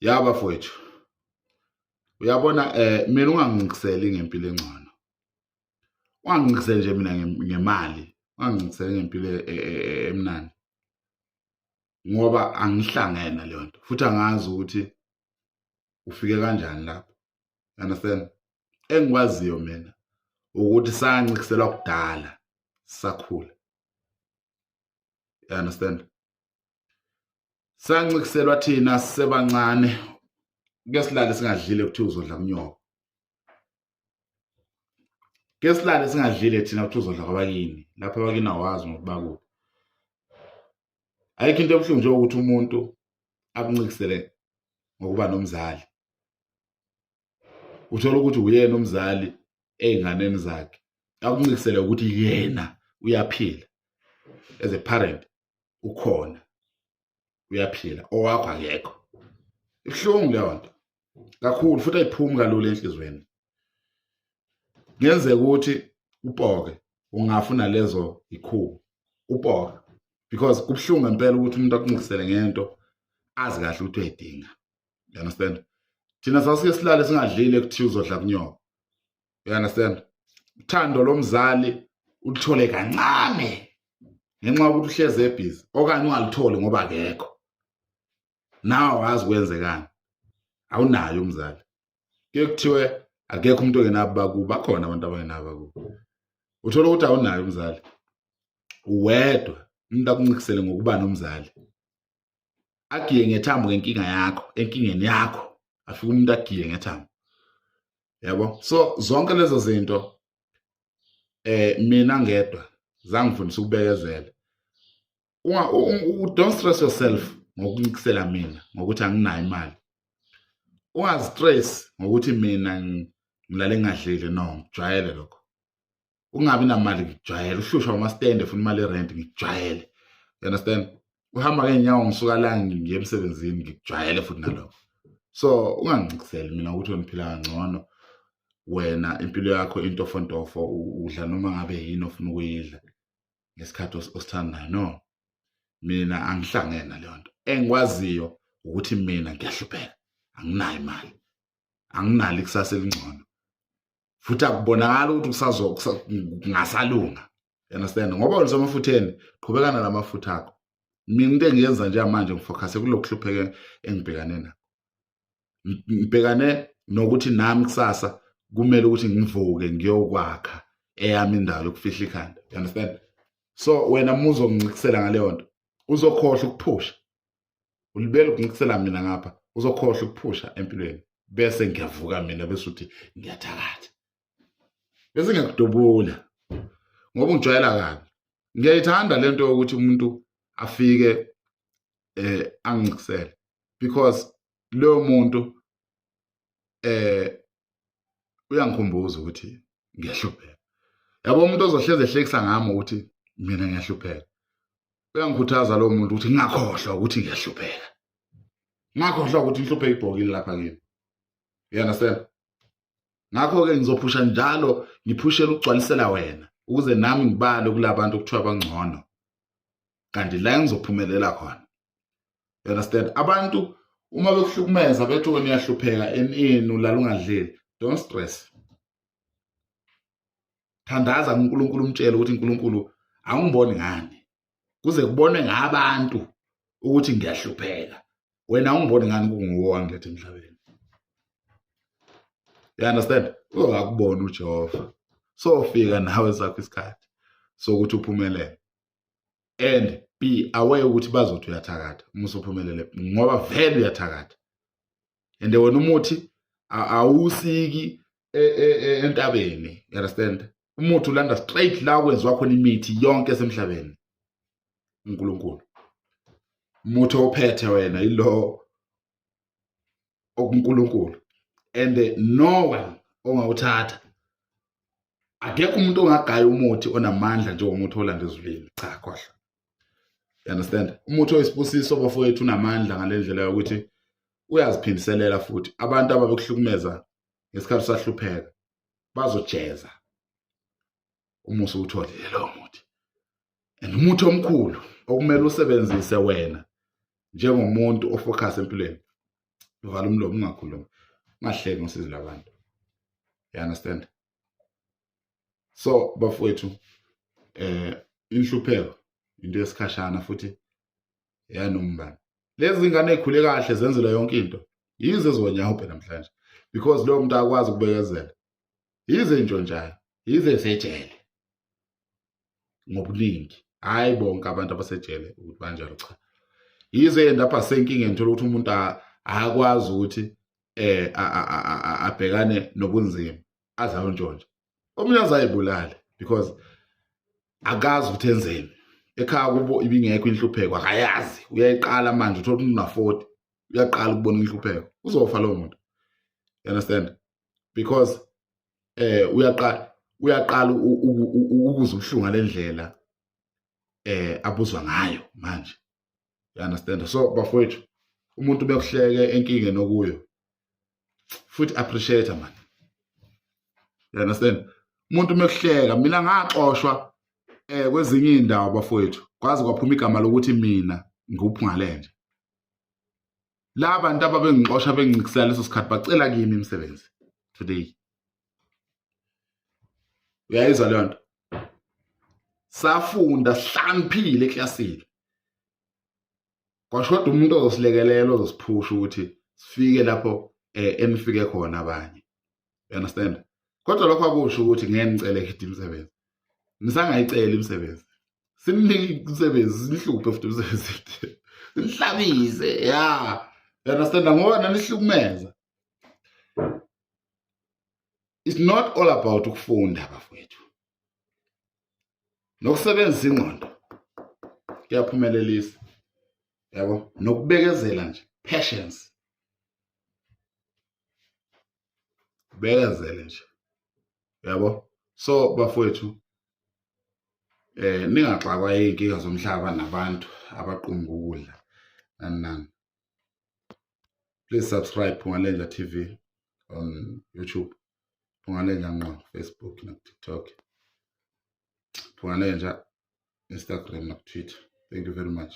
ya bafowethu uyabona eh mina ungangiqiseli ngempilo engcono ungangiqiseli nje mina ngemali ungangiqiseli ngempilo e, e, e, emnandi ngoba angihlangene leyo nto futhi angazi ukuthi ufike kanjani lapho understand engikwaziyo mina ukuthi sancikiselwa kudala sakhula you understand sancikiselwa thina sisebancane ke silale singadlile kuthiwa uzodla kunyoko ke silale singadlile thina kuthiwa uzodla kwabakini lapho abakini awazi ngokuthi bakuphi ayikho into ebuhlungu nje ukuthi umuntu akuncikisele ngokuba nomzali uthola ukuthi uyena umzali ey'nganeni zakhe akuncikisele ukuthi yena uyaphila as a parent ukhona uyaphila owakho akekho ibuhlungu leyo nto kakhulu futhi ayiphumi kalula enhlizweni kuyenzeka ukuthi upoke ungafuna lezo ikhubo upoke because kubuhlungu ngempela ukuthi umuntu akuncikisele ngento azi kahle ukuthi uyayidinga you understand thina sasike silale singadlile kuthiwa uzodla kunyoko you understand uthando lomzali ulithole kancane ngenxa yokuthi uhleze ebhizi okanye ungalitholi ngoba akekho nawe wazi kwenzekani awunayo umzali ke kuthiwe akekho umuntu ongenabo bakubo bakhona abantu abangenabo bakubo uthola ukuthi awunayo umzali uwedwa umuntu akuncikisele ngokuba nomzali agiye ngethambo ngenkinga yakho enkingeni yakho afike umuntu agiye ngethambo yabo so zonke lezo zinto eh mina ngedwa zangifundisa ukubekezela don't stress yourself ngokuncikisela mina ngokuthi anginayo imali ungazistress ngokuthi mina ngilale ngadlile no ngijwayele lokho ungabi namali ngijwayele uhlushwa amastende funa imali erent ngijwayele you understand uhamba ngeenyawo ngisuka la ngiye emsebenzini ngijwayele futhi nalokho so ungangiciseli mina ukuthi ngiphila kangcono wena impilo yakho intofontofo udla noma ngabe yini ofuna ukuyidla ngesikhathi osithandayo no mina angihlangene naleyo nto engikwaziyo ukuthi mina ngiyahlupheka anginayo imali anginalo ikusasa elingcono futhi akubonakala ukuthi kusazokusa kungasalunga you understand ngoba ulisemafutheni qhubekana namafutha akho mina into engiyenza njengamanje ngifokhase kulo kuhlupheke engibhekane nakho ngibhekane nokuthi nami kusasa kumele ukuthi ngivuke ngiyokwakha eyami indawo yokufihla ikhanda you understand so wena uma uzongincikisela ngaleyo nto uzokhohlwa ukuphusha ulibele ukuncisela mina ngapha uzokhohlwa ukuphusha empilweni bese ngiyavuka mina bese uthi ngiyathakatha bese ngiyakudubula ngoba ungijwayela kabi ngiyayithanda le nto yokuthi umuntu afike eh angicisele because leyo muntu eh uyangikhumbuza ukuthi ngiyahlupheka yabo umuntu ozohleze ehlekisa ngami ukuthi mina ngiyahlupheka uyangikhuthaza lowo muntu ukuthi ngingakhohlwa ukuthi ngiyahlupheka ngakhohlwa ukuthi inhluphe ibhokile lapha kimi you understand ngakho-ke ngizophusha njalo ngiphushela ukugcwalisela wena ukuze nami ngibale kulabantu okuthiwa bangcono kanti la engizophumelela khona you understand abantu uma bekuhlukumeza bethi wena uyahlupheka enini ulala ungadleli don't stress thandaza kuNkulunkulu umtshele ukuthi uNkulunkulu angiboni ngani kuze kubone ngabantu ukuthi ngiyahlupheka wena ungiboni ngani kunguwo wangilethe emhlabeni you understand uzokubona uJehova sofika nawe sakho isikhathi sokuthi uphumelele and be aware ukuthi bazothi uyathakatha uma usuphumelele ngoba vele uyathakatha and wena umuthi awusiki e, e, e, entabeni you understand umuthi ulanda straight la kwenziwa khona imithi yonke esemhlabeni uNkulunkulu umuthi ophethe wena yilo okuNkulunkulu and no one ongawuthatha akekho umuntu ongagaya umuthi onamandla njengomuthi olanda ezulwini cha khohla you understand umuthi oyisibusiso bafowethu unamandla ngalendlela yokuthi uyaziphindiselela futhi abantu ababekuhlukumeza ngesikhathi usahlupheka bazojeza umusa uwutholile lowo muthi and umuthi omkhulu okumele usebenzise wena njengomuntu ofocus empilweni uvala umlomo ungakhulumi ungahleki ngosizi labantu you understand so bafowethu eh inhlupheko into yesikhashana futhi yanombani lezi ngane ezikhule kahle zenzela yonke into yize zonyahubhe namhlanje because lo muntu akwazi ukubekezela yize intshontshayo yize sejele ngobuningi hhayi bonke abantu abasejele ukuthi banjalo cha yize endapha senkingeni thola ukuthi umuntu akwazi ukuthi eh abhekane nobunzima azalo ntshontshe omunye azayibulale because akazi ukuthi enzeni ekhaya kubo ibingekho inhlupheko akayazi uyayiqala manje uthola umuntu una-40 uyaqala ukubona inhlupheko uzofa lowo muntu you understand because eh uyaqala uyaqala ukuza ubuhlungu lendlela eh abuzwa ngayo manje you understand so bafowethu umuntu bekuhleke enkinge nokuyo futhi appreciate man you understand umuntu mekuhleka mina ngaxoshwa eh kwezinye indawo bafowethu kwazi kwaphuma igama lokuthi mina ngikuphungalenje la bantu ababengixosha bengicikisela leso sikhathi bacela kimi imisebenzi today uyayizwa leyo nto safunda sihlaniphile eklasini kwashoda umuntu ozosilekelela ozosiphusha ukuthi sifike lapho um enifike khona abanye you understand kodwa lokho akusho ukuthi ngeke ngicele hit imisebenzi ngisangayicela imisebenzi simnike imisebenzi sinihluphe futhi imisebenzi nihlabise ya you understand ngoba nanihlukumeza it's not all about ukufunda bafowethu nokusebenzisa ingqondo kuyaphumelelisa yabo nokubekezela nje patience bekezele nje yabo so bafowethu eh ningaxakwa izinkinga zomhlaba nabantu abaqumba ukudla nani nani please subscribe Phungalenja TV on YouTube Phungalenja ngqo Facebook na TikTok Phungalenja Instagram na Twitter thank you very much